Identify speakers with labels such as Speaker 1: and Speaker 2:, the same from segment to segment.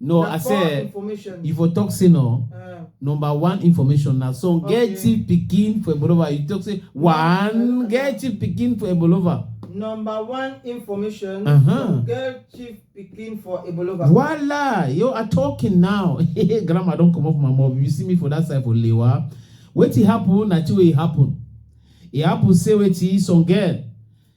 Speaker 1: No, na I poor say information. you for talk say no. Uh, Number one information na song Okay. get chief pikin for Ebolova. You talk say one get chief pikin for Ebolova. number one information. Uh-huh. from Girl chief pikin for Ebolova. Voila, you are talking now. Grandma don comot my mouth. You see me for that side for Lewa. Wetin happen na two way e happen. E happen say wetin some girl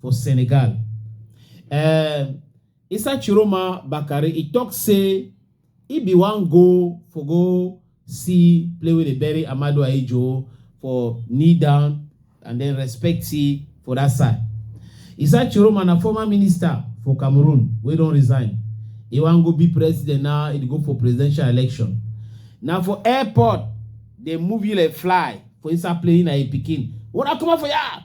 Speaker 1: for Senegal. Um, Issa Chiroma Bakari, he talk say he be one go for go see play with the bury Amadu Ayejo for knee down and then respect he for that side. Issa Chiroma na former minister for Cameroon wey don resign. He wan go be president now, he dey go for presidential election. Na for airport dey move you like fly for inside plane na him pikin. Una comot for here!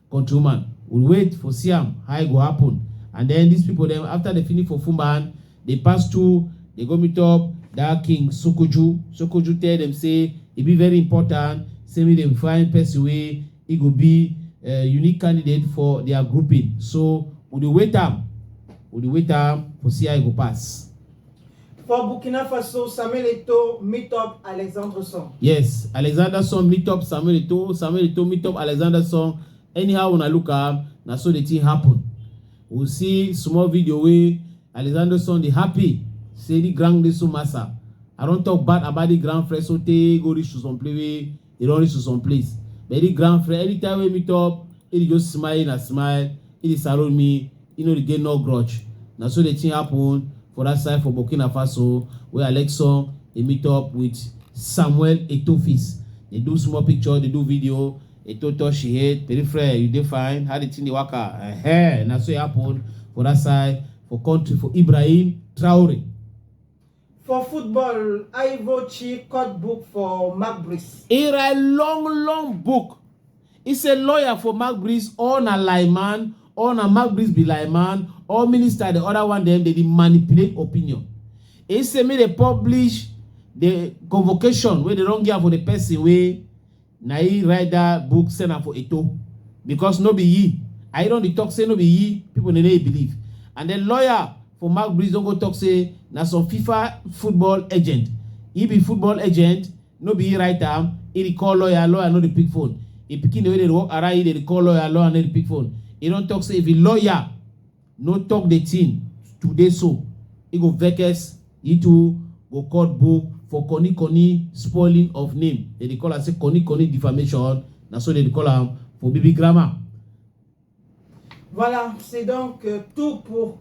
Speaker 1: Countryman, we wait for see am how e go happen. And then these people dem after they finish for Fumban, they pass through, they go meet up that king Sokoju. Sokoju tell them say e be very important, say make dem find person wey e go be uh, unique candidate for their grouping. So we dey wait am, we dey wait am for see how e go pass. For Burkina Faso, Samuel Eto'o meet up Alexander Song. Yes, Alexander Song meet up Samuel Eto'o. Samuel Eto'o meet up Alexander Song. Anyhow, when I look am, na so the thing happen. We see small video wey Alexander Song dey happy say the grand Lesu Massa. I don talk bad about the grand Freso tey go reach to some play wey e don reach to some place but any grand friend anytime wey meet up e dey just smile na smile e dey saro me e no dey get no grudge na so the thing happen for that side for burkina faso wey alexon dey meet up with samuel etofis dey do small picture dey do video eto touch she head peripheral you dey fine how the thing dey waka uh -huh. na so e happen for that side for country for ibrahim traore For football, Ivo Chi cut book for Magbris. He write long long book. He say lawyer for Magbris or na lineman or na Magbris be lineman or minister the other one dem dey dey manipulate opinion. He say make dey publish the convocation wey dey don give am for the person wey Na yi write that book send am for Eto because no be yi I don dey talk say no be yi people dey dey believe and then lawyer for Marc Breeze don go talk say na some FIFA football agent he be football agent no be he write am he dey call lawyer lawyer no dey pick phone he pikin wey dey work around he dey call lawyer lawyer no dey pick phone he don talk say if he lawyer no talk the thing today so e go vex e too go court book for koni koni spoiling of name they dey call am say koni koni defamation na so they dey call am for baby grammar. Voilà, c'est donc euh, tout pour